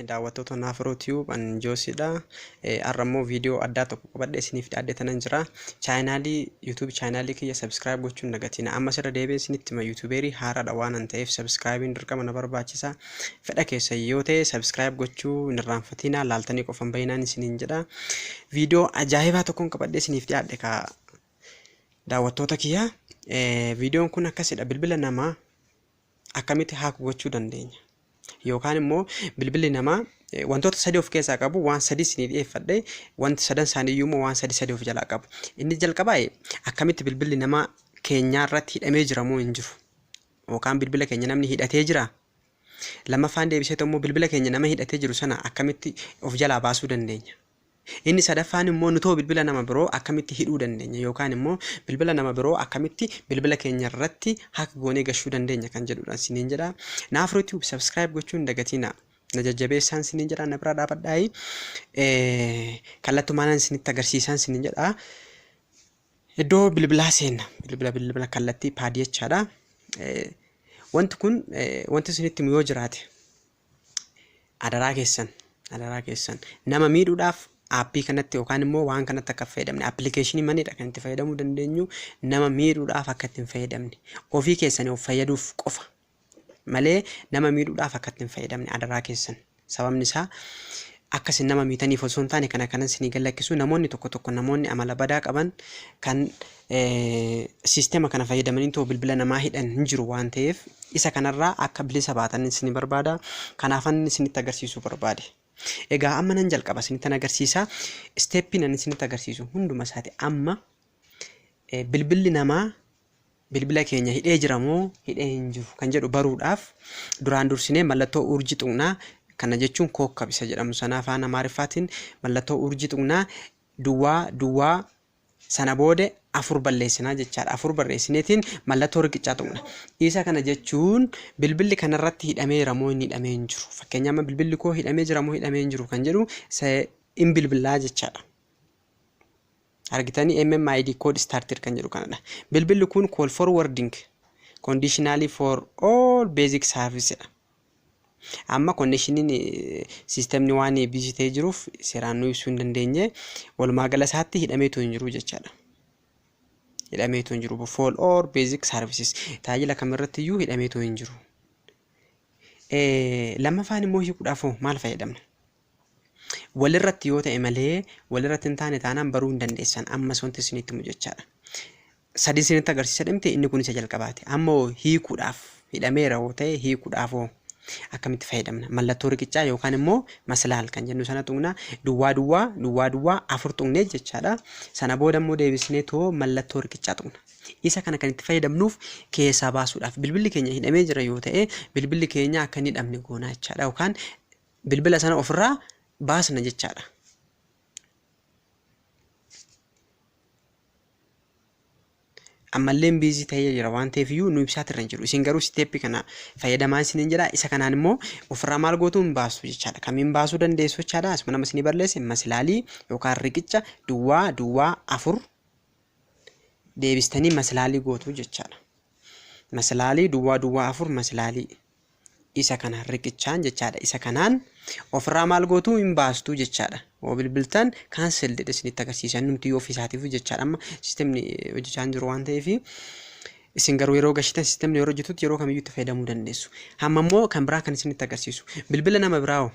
daawwattoota Naafroo Tube an Joosiidha. Har'a immoo viidiyoo addaa tokko qabadhe isiniif dhiyaadhee tanan jira. Chaayinaalii YouTube chaayinaalii kiyya subscribe gochuun nagatina. Ammas irra deebi'ee isinitti hima YouTubeerii haaraadha waan an ta'eef subscribein dirqama na barbaachisa. Fedha keessan yoo ta'e subscribe gochuu hin irraanfatiinaa laaltanii qofan bayinaan isiniin jedha. Viidiyoo ajaa'ibaa tokkoon qabadhee isiniif dhiyaadhe ka daawwattoota kiyya. Viidiyoon kun akkasidha bilbila namaa akkamitti haak gochuu dandeenya. Yookaan immoo bilbilli namaa wantoota sadii of keessaa qabu waan sadii isinii dhiyeeffadhe wanti sadan isaanii iyyuu immoo waan sadii sadii of jalaa qabu. Inni jalqabaa akkamitti bilbilli namaa keenyaa irratti hidhamee jiramoo hin jiru. yookaan bilbila keenya namni hidhatee jira? Lammaffaan deebisee immoo bilbila keenya nama hidhatee jiru sana akkamitti of jalaa baasuu dandeenya? Inni sadaffaan immoo nutoo bilbila nama biroo akkamitti hidhuu dandeenya yookaan immoo bilbila nama biroo akkamitti bilbila keenya irratti hack goonee gashuu dandeenya kan jedhudha isiniin jedha. Naaf YouTube subscribe gochuu hin dagatiina. Na jajjabeessaan isiniin jedha na bira dhaabadhaayi. Kallattumaanan isinitti agarsiisaan isiniin jedha. Iddoo bilbilaa seenna. Bilbila bilbila kallattii paadii jechaadha. Wanti kun wanti isinitti himu yoo jiraate adaraa keessan adaraa keessan nama miidhuudhaaf aappii kanatti yookaan immoo waan kanatti akka fayyadamne appilikeeshinii manidha kan itti fayyadamuu dandeenyu nama miidhuudhaaf akka itti hin fayyadamne ofii keessanii of fayyaduuf qofa malee nama miidhuudhaaf akka itti hin fayyadamne adaraa keessan sababni isaa akka isin nama miitaniif osoo hin taane kana kanan isinii gad lakkisuu namoonni tokko tokko namoonni amala badaa qaban kan siistema kana fayyadamanii too bilbila namaa hidhan hin jiru waan ta'eef isa kanarraa akka bilisa baatan isin barbaada kanaafan isinitti agarsiisuu barbaade. Egaa amma nan jalqaba isinittan agarsiisa isteeppiin ani isinitti agarsiisu hunduma isaati amma eh, bilbilli namaa bilbila keenya hidhee jira moo hidhee hin jiru kan jedhu baruudhaaf duraan dursinee mallattoo urjii tuqnaa kana jechuun kookkab isa jedhamu sana afaan amaariffaatiin mallattoo urjii tuqnaa duwwaa duwwaa sana booda afur balleessinaa jechaadha afur barreessineetiin mallattoo riqichaa tuqna isa kana jechuun bilbilli kanarratti hidhameera moo hin hidhamee hin jiru fakkeenya amma bilbilli koo hidhamee jira moo hidhamee hin jiru kan jedhu hin bilbilaa jechaadha. argitanii MMID code started kan jedhu kanadha. Bilbilli kun call forwarding conditionally for all basic service dha. Amma connectioniin sistemni waan busy ta'ee jiruuf seeraan nu ibsuu hin dandeenye walumaa gala isaatti hidhameetu hin jiru jechaadha. Hidhameetu hin jiru for all basic services tajaajila kamirratti iyyuu hidhameetu hin jiru. Lammaffaan immoo hiikuudhaaf maal fayyadamna? Walirratti yoo ta'e malee walirratti hin taane taanaan baruu hin dandeessan ammas wanti isinitti himu jechaadha. Sadii isinitti agarsiisa dhimte inni kun isa jalqabaati. Amma hoo hiikuudhaaf hidhameera hoo ta'e hiikuudhaaf hoo akkamitti fayyadamna? Mallattoo riqichaa yookaan immoo maslaal kan jennu sana tuqna duwwaa duwwaa duwwaa duwwaa afur tuqnee jechaadha. Sana booda immoo deebisnee too mallattoo riqichaa tuqna. Isa kana kan itti fayyadamnuuf keessaa baasuudhaaf bilbilli keenya hidhamee jira yoo ta'e bilbilli keenya akka hin hidhamne goonaa jechaadha yookaan bilbila sana ofirraa baasna jechaadha. ammallee biizii ta'ee jira waan ta'eef iyyuu nu ibsaatti irra hin jiru. Isin garuu siteeppii kana fayyadamaa isin hin jedha. Isa kanaan immoo ofirraa maal gootu hin baastu jechaadha. Kamiin baasuu dandeessu jechaadha. Asuma nama isinii barreesse masilaalii yookaan riqicha duwwaa duwwaa afur deebistanii masilaalii gootu jechaadha. Masilaalii duwwaa duwwaa afur masilaalii isa kana riqichaan jechaadha isa kanaan ofirraa maal gootuu hin baastuu jechaadha yoo bilbiltan kaansel jedhe isinitti agarsiisa innumti yoo ofiisaatiif jechaadha amma sistemni hojjechaa hin jiru waan ta'eef isin garuu yeroo gashitan sistemni yeroo hojjetutti yeroo kamiyyuu itti fayyadamuu dandeessu amma immoo kan biraa kan isinitti agarsiisu bilbila nama biraa hoo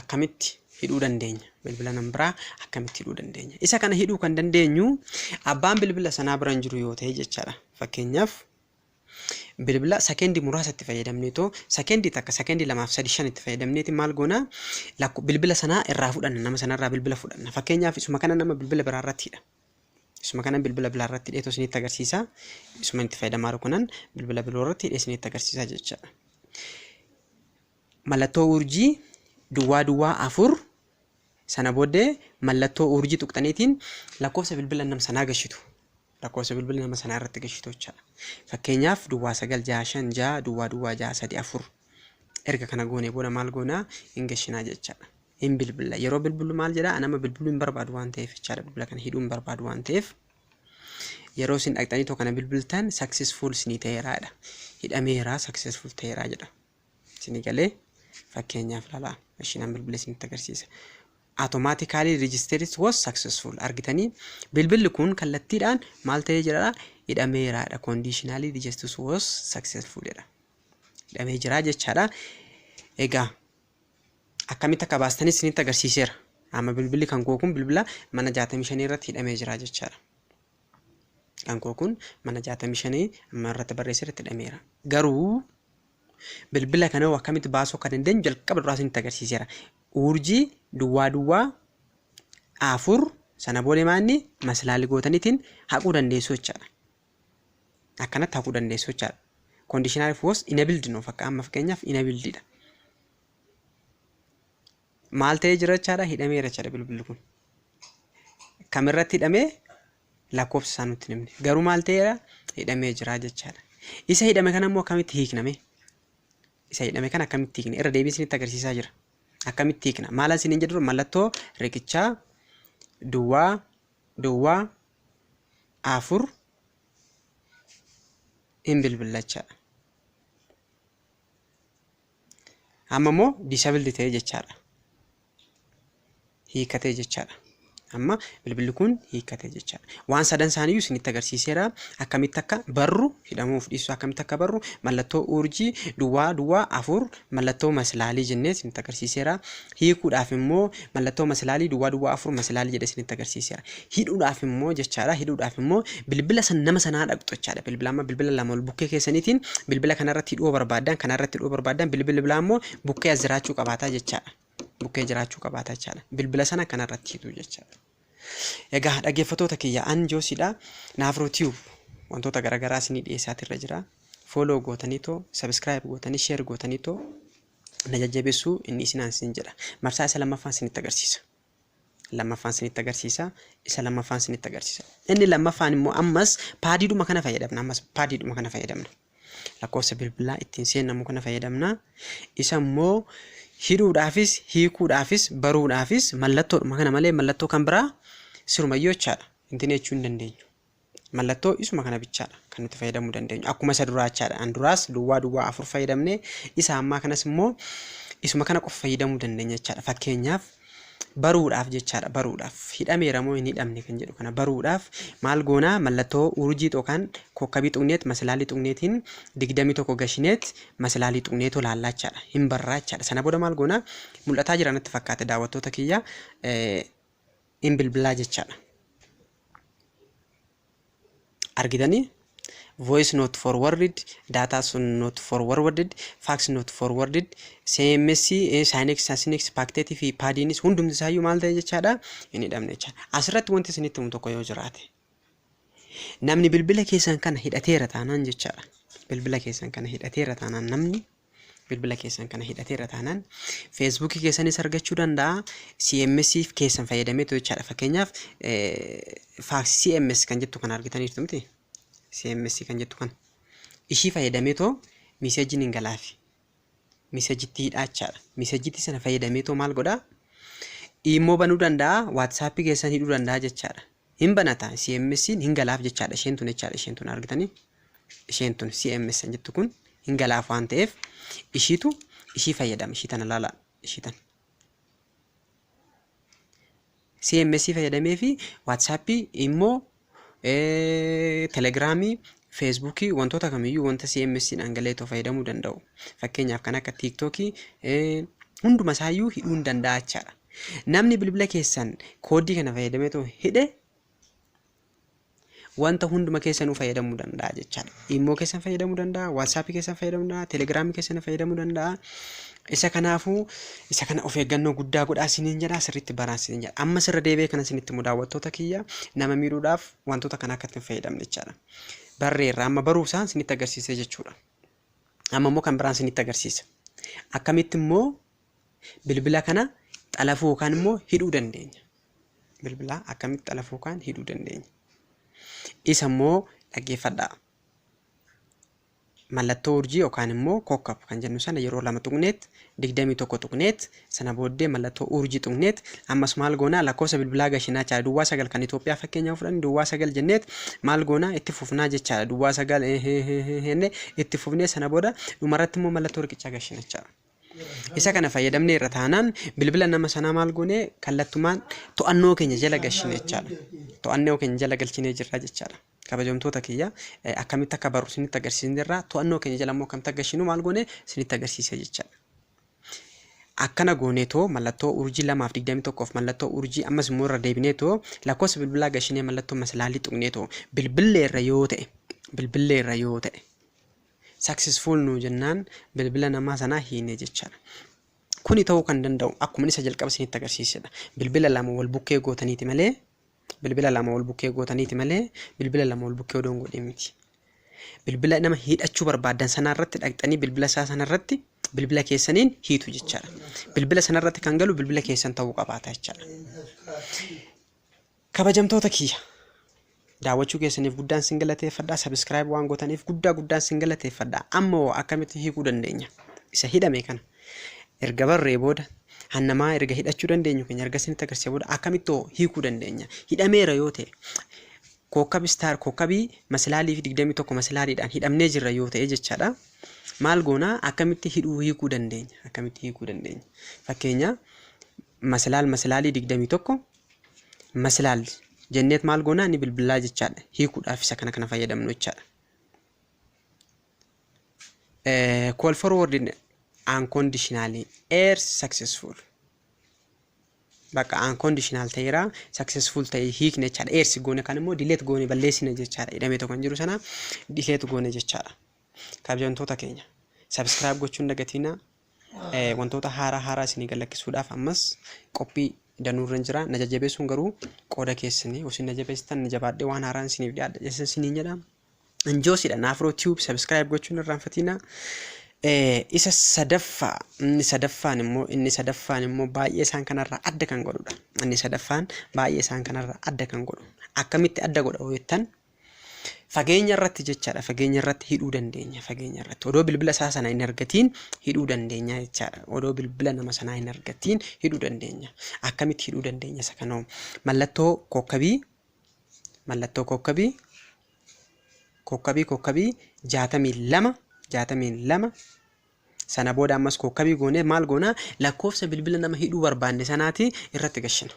akkamitti hidhuu dandeenya bilbila nama biraa akkamitti hidhuu dandeenya isa kana hidhuu kan dandeenyu abbaan bilbila sanaa bira hin jiru yoo ta'e jechaadha fakkeenyaaf Bilbila sekendi muraasa itti fayyadamneetoo sekendi takka sekendi lamaaf sadi shan itti fayyadamneeti maal goona lakko bilbila sanaa irraa fudhanna nama sanarraa bilbila fudhanna fakkeenyaaf isuma kana nama bilbila biraa irratti hidha isuma kana bilbila biraa irratti hidheetoo isinitti agarsiisa isuma itti fayyadamaa jiru kanan bilbila biroo irratti hidhee isinitti agarsiisa jechaadha. Mallattoo urjii duwwaa duwwaa afur sana booddee mallattoo urjii tuqxaniitiin lakkoofsa bilbila nam sanaa gashitu. lakkoofsa bilbila nama sanaa irratti gashitu jechaadha. Fakkeenyaaf duwwaa sagal jaha shan jaha duwwaa duwwaa jaha sadi afur erga kana goonee booda maal goonaa hin gashinaa jechaadha. Hin bilbila yeroo bilbilu maal jedhaa anama bilbiluu hin barbaadu waan ta'eef jechaadha bilbila kana hidhuu hin barbaadu waan ta'eef yeroo isin dhaqxanii too kana bilbiltan successful isinii ta'eeraadha hidhameeraa successful ta'eeraa jedha. Isinii galee fakkeenyaaf laalaa. Ishiin an bilbila isinitti agarsiisa. Automatically registers was successful. Argitanii bilbilli kun kallattiidhaan maal ta'ee jira? Hidhameeraadha. Conditionally registers was successful jedha. Hidhamee jira jechaadha. Egaa akkamitti akka baastanii isinitti agarsiiseera. Amma bilbilli kan koo kun bilbila mana 65 irratti hidhamee jira jechaadha. Kan koo kun mana 65 amma irratti barreessee irratti hidhameera. Garuu bilbila kana hoo akkamitti baasuu akka dandeenyu jalqaba duraa isinitti agarsiiseera. Uurjii duwwaa duwwaa afur sana booda maanni maslaali gootanitiin haquu dandeessu jechaadha. Akkanatti haquu dandeessu jechaadha. Conditional if was enabled nuuf akka amma fakkeenyaaf enabled dha. Maal ta'ee jira jechaadha? Hidhameera jechaadha bilbilli kun. Kam irratti hidhamee lakkoofsa isaa nutti hin himne. Garuu maal ta'eera? Hidhamee jira jechaadha. Isa hidhame kana immoo akkamitti hiikname? Isa hidhame kana akkamitti hiikna? Irra deebiin isinitti agarsiisaa jira. Akkamitti hiikna? Maal isiniin jedhu mallattoo riqichaa duwwaa duwwaa afur hin bilbillachaadha. Amma immoo disabled ta'e jechaadha. Hiikkatee jechaadha. Amma bilbilli kun hiikkatee jechaadha. Waan sadan isaaniiyyuu isinitti agarsiiseera. Akkamitti akka barru hidhamuuf dhiisu akkamitti akka barru mallattoo urjii duwwaa duwwaa afur mallattoo maslaalii jennee isinitti agarsiiseera. Hiikuudhaaf immoo mallattoo masilaalii duwwaa duwwaa afur masilaalii jedhee isinitti agarsiiseera. Hidhuudhaaf immoo jechaadha. Hidhuudhaaf immoo bilbila san nama sanaa dhaqxu jechaadha. Bilbila amma bilbila lama ol bukkee keessaniitiin bilbila kanarratti hidhuu barbaaddan kanarratti hidhuu barbaaddan bilbila bilaa immoo bukkee as jiraachuu qabaataa jechaadha. Bukkee jiraachuu qabaataa jechaadha. Bilbila sana kanarratti hidhuu jechaadha. Egaa dhaggeeffattoota kiyya an joosiidha. Naafroo tiyuub wantoota garaagaraa isinii dhiyeessaatirra jira. Fooloo gootanii too, sabiskiraayib gootanii, sheer gootanii too na jajjabeessuu inni isinaan sin jedha. Marsaa isa lammaffaan sinitti agarsiisa. Lammaffaan sinitti agarsiisa. Isa lammaffaan sinitti agarsiisa. Inni lammaffaan immoo ammas paadiidhuma kana fayyadamna. Ammas paadiidhuma kana fayyadamna. Lakkoofsa bilbilaa ittiin seennamu kana fayyadamna. Isa immoo hidhuudhaafis, hiikuudhaafis, baruudhaafis mallattoodhuma kana malee mallattoo kan biraa sirumayyuu jechaadha. Intinee jechuu hin dandeenyu. Mallattoo isuma kana bichaadha kan nuti fayyadamuu dandeenyu. Akkuma isa duraa jechaadha. An duraas duwwaa duwwaa afur fayyadamne isa ammaa kanas immoo isuma kana qofa fayyadamuu dandeenya jechaadha. Fakkeenyaaf baruudhaaf jechaadha baruudhaaf hidhameera moo hin hidhamne kan jedhu kana baruudhaaf maal goonaa mallattoo urjii yookaan kokkabii tuqneet masilaalii tuqneetiin digdamii tokko gashineet masilaalii tuqneetu laallaa jechaadha. Hin barraa jechaadha. Sana booda maal goonaa mul'ataa jira natti fakkaate daawwattoota kiyya. in bilbilaa jechaadha. Argitanii? voice not forwarded, data sun not forwarded, fax not forwarded, CMS, eh, Sinex, Asinex, Pactet fi Padinis hundumti isaayyuu maal ta'e jechaadha? Hin hidhamne jechaadha. Asirratti wanti isinitti himu tokko yoo jiraate. Namni bilbila keessan kana hidhateera taanaan jechaadha. Bilbila keessan kana hidhateera taanaan namni bilbila keessan kana hidhateera taanaan feesbuukii keessanis argachuu danda'a. CMS keessan fayyadameetu jechaadha. Fakkeenyaaf faaksii CMS kan jettu kana argitaniirtu miti. CMS kan jettu kana. Ishii fayyadameetoo miseejiin hin galaafi. Miseejitti hidhaa jechaadha. Miseejitti sana fayyadameetoo maal godhaa? Immoo banuu danda'a, waatsaappii keessan hidhuu danda'a jechaadha. Hin banata CMSn hin galaaf jechaadha isheen tun jechaadha isheen tun argitanii isheen tun CMSn jettu kun hin galaaf waan ta'eef ishiitu ishii fayyadama ishii tana laala ishii tana. CMS fayyadamee fi WhatsApp immoo telegiraamii Facebook wantoota kamiyyuu wanta CMS dhaan galee too fayyadamuu danda'u. Fakkeenyaaf kan akka TikTok hunduma isaayyuu hidhuu hin danda'a jechaadha. Namni bilbila keessan koodii kana fayyadamee too hidhe wanta hunduma keessanuu fayyadamuu danda'a jechaadha. Immoo keessan fayyadamuu danda'a, WhatsApp keessan fayyadamuu danda'a, Telegram keessan fayyadamuu danda'a. Isa kanaafuu isa kana of eeggannoo guddaa godhaa isiniin jedha sirriitti baraa isiniin jedha. Amma sirra deebi'ee kana isinitti immoo daawwattoota kiyya nama miidhuudhaaf wantoota kana akka itti hin fayyadamne jechaadha. Barreerra amma baruu isaan isinitti agarsiisee jechuudha. Amma immoo kan biraan isinitti agarsiisa. Akkamitti immoo bilbila kana xalafuu yookaan immoo hidhuu dandeenya. Bilbila akkamitti xalafuu yookaan hidhuu dandeenya. Isa immoo dhaggeeffadhaa. mallattoo urjii yookaan immoo kokkab kan jennu sana yeroo lama tuqneet digdamii tokko tuqneet sana booddee mallattoo urjii tuqneet ammas maal goonaa lakkoofsa bilbilaa gashinaa jechaadha duwwaa sagal kan Itoophiyaa fakkeenyaaf fudhanne duwwaa sagal jenneet maal goonaa itti fufnaa jechaadha duwwaa sagal henne itti fufnee sana booda dhumarratti immoo mallattoo riqichaa gashina jechaadha. Isa kana fayyadamnee irra taanaan bilbila nama sanaa maal goonee kallattumaan to'annoo keenya jala gashine jechaadha. To'annoo keenya jala galchinee jirra jechaadha. Kabajamtoota kiyya, akkamitti akka barru isinitti agarsiisne irraa to'annoo keenya jala immoo akkamitti akka gashinu maal goone isinitti agarsiise jechaadha. Akkana gooneetoo mallattoo urjii lamaaf digdamii tokkoof mallattoo urjii ammas immoo irra deebineetoo lakkoofsa bilbilaa gashinee mallattoo masalaalii tuqneetoo bilbillee irra yoo ta'e bilbillee irra yoo ta'e successful nuu jennaan bilbila namaa sanaa hiine jechaadha. Kuni ta'uu kan danda'u akkuma isa jalqaba isinitti agarsiisedha. Bilbila lama wal bukkee gootaniiti malee Bilbila lama wal bukkee gootaniiti malee bilbila lama wal bukkee odoo hin godhin miti. Bilbila nama hidhachuu barbaaddan sanaa irratti dhaqxanii bilbila isaa sana irratti bilbila keessaniin hiitu jechaadha. Bilbila sana irratti kan galu bilbila keessan ta'uu qabaata jechaadha. Kabajamtoota kiyya daawwachuu keessaniif guddaan sin galateeffadha. Sabiskiraayib waan gootaniif guddaa guddaan sin galateeffadha. Amma hoo akkamitti hiikuu dandeenya? Isa hidhame kana. erga barree booda han namaa erga hidhachuu dandeenyu keenya erga isinitti agarsiise booda akkamitti hoo hiikuu dandeenya hidhameera yoo ta'e kookkabi istaar kookkabii masilaalii fi digdamii tokko masilaaliidhaan hidhamnee jirra yoo ta'e jechaadha maal goonaa akkamitti hidhuu hiikuu dandeenya akkamitti hiikuu dandeenya fakkeenya masilaal masilaalii digdamii tokko masilaal jenneet maal goonaa ni bilbilaa jechaadha hiikuudhaaf isa kana kana fayyadamnu jechaadha. Call forward unconditionally air successful. Bakka unconditional ta'eera successful ta'e hiikne jechaadha. Air si goone kan immoo delete goone balleessina jechaadha. Hidhamee tokko hin jiru sana delete goone jechaadha. Kabajamtoota keenya subscribe gochuun dagatiina wantoota haaraa haaraa isinii gallakkisuudhaaf ammas qophii danuurra hin jira. Na jajjabeessuun garuu qooda keessanii osoo na jabeessitan na jabaadhee waan haaraan isiniif dhiyaadha. Isin isiniin jedha. Njoosidha Naafroo Tube subscribe gochuun irraanfatiina. Isa sadaffaa inni sadaffaan immoo inni sadaffaan immoo baay'ee isaan kanarraa adda kan godhudha. Inni sadaffaan baay'ee isaan kanarraa adda kan godhu. Akkamitti adda godha yoo jettan fageenya irratti jechaadha. Fageenya irratti hidhuu dandeenya. Fageenya irratti odoo bilbila isaa sana hin argatiin hidhuu dandeenya jechaadha. Odoo bilbila nama sanaa hin argatiin hidhuu dandeenya. Akkamitti hidhuu dandeenya isa kanoo mallattoo kookkabii mallattoo kookkabii kookkabii kookkabii jaatamii lama jaatamii lama sana booda ammas kookkabii goonee maal goonaa lakkoofsa bilbila nama hidhuu barbaanne sanaatii irratti gashina.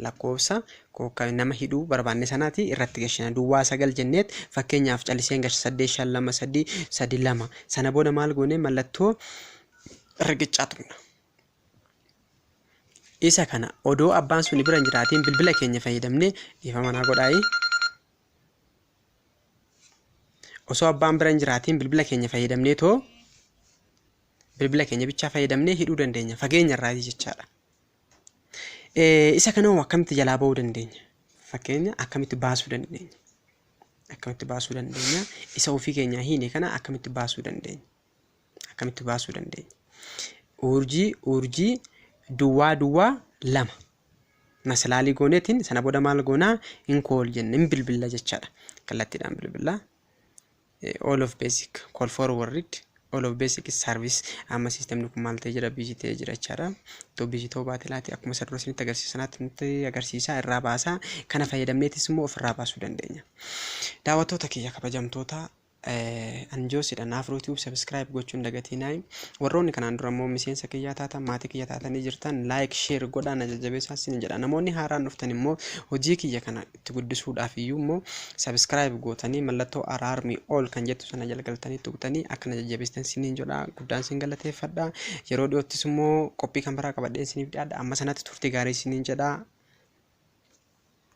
Lakkoofsa kookkabii nama hidhuu barbaanne sanaatii irratti gashina. Duwwaa sagal jenneet fakkeenyaaf calliseen gashe saddeet shan lama sadii sadi lama sana booda maal goonee mallattoo riqichaa tuqna. Isa kana odoo abbaan suni bira hin jiraatiin bilbila keenya fayyadamnee dhiifama naa godhaayi. Osoo abbaan bira hin jiraatiin bilbila keenya fayyadamnee too bilbila keenya bichaa fayyadamnee hidhuu dandeenya fageenya irraa jechaadha. Isa kana hoo akkamitti jalaa ba'uu dandeenya? Fakkeenya akkamitti baasuu dandeenya? Akkamitti baasuu dandeenya? Isa ofii keenyaa hiine kana akkamitti baasuu dandeenya? akkamitti baasuu dandeenya? Uurjii uurjii duwwaa duwwaa lama masalaalii gooneetiin sana booda maal goonaa in kool jenna in bilbilla jechaadha kallattiidhaan bilbilla all of basic call forward all of basic is service amma siistemni kun maal ta'ee jira biizii ta'ee jira jechaadha iddoo biizii ta'uu baate laati akkuma isa dura isinitti agarsiisa sanaatti nutti agarsiisaa irraa baasaa kana fayyadamneetis immoo ofirraa baasuu dandeenya daawwattoota kiyya kabajamtoota An Joosidha Naafroo Tube Subscribe gochuu hin dagatiinaayim. Warroonni kanaan dura immoo miseensa kiyyaa taatan maatii kiyya taatanii jirtan like share godhaa na jajjabeessaa sin jedha. Namoonni haaraan dhuftan immoo hojii kiyya kana itti guddisuudhaaf iyyuu immoo subscribe gootanii mallattoo araarmi all kan jettu sana jala galtanii tuqxanii akka na jajjabeessitan siniin jedha. Guddaan sin galateeffadha. Yeroo dhiyoottis immoo qophii kan biraa qabadheen siniif dhiyaadha. Amma sanatti turtii gaarii siniin jedha.